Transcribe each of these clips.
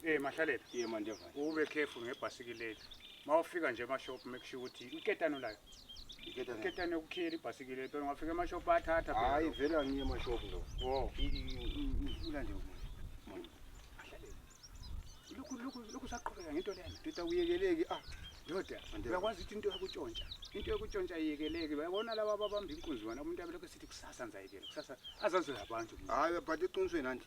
Eh mahlalela. Ye manje mfana. Ube careful ngebhasikileli. Mawufika nje emashop make sure ukuthi iketano layo. Iketano. Iketano yokukhiyela ibhasikileli. Phela ungafika emashop athatha phela. Hayi vele angiye emashop lo. Oh. Ula nje umuntu. Lokhu lokhu lokhu saqhubeka ngento lena. Tita uyekeleki ah. Ndoda, uyakwazi ukuthi into yakutshontsha. Into yakutshontsha iyekeleke. Bayabona laba ababamba inkunzi wena umuntu abelokho sithi kusasa ngizayekela. Kusasa azazoya abantu. Hayi but iqinisweni anti.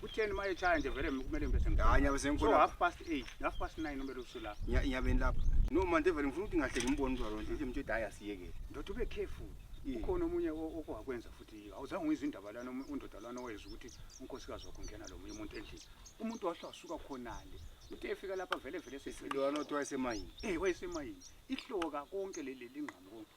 Kutheni uma echaya nje vele kumele ngibe sengikhona. Hayi nyabe So sengikhona. half past 8, half past 9 umele usula. Nya- Nyabeni lapha. No manje vele ngifuna ukuthi ngahleki ngimbone uzwa lonje nje mtshela hayi asiyeke. Ndoda ube careful. Yeah. Ukhona omunye o- okwakwenza futhi awuzange uyizwe indaba lana umu- undoda lana owezwa ukuthi unkosikazi wakho ungena lo munye umuntu endlini. Umuntu wahle wasuka khonale. Uthe efika lapha vele vele Lo anothiwa esemayini. Eh wayesemayini. Ihloka konke leli lingqamu konke.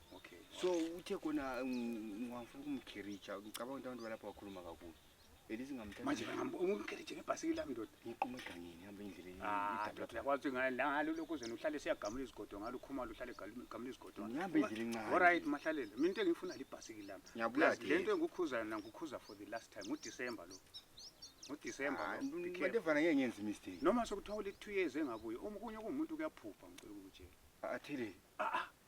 okay so uthe kona ngiwafuna ukumkhiritsha ngicabanga ukuthi abantu balapha bakhuluma kakhulu manje umkhiritshe ngebhasikili lami ndoda ngiquma egangeni ngihamba endleleni ah, yakwazi ngalo lokhu uzena uhlale siyagamula izigodo ngalo ukhumalo uhlale gamula izigodo ngihamba endleleni ncane olright mahlalele mina into engiyifuna libhasikili lami le nto engikukhuza yona ngikukhuza for the last time ngudisemba lo ngudisemba ah, lobantevana ngeke ngenza imistake noma sekuthiwa uli-two years engabuye okunye kungumuntu kuyaphupha ngicela ukutshela athile ah,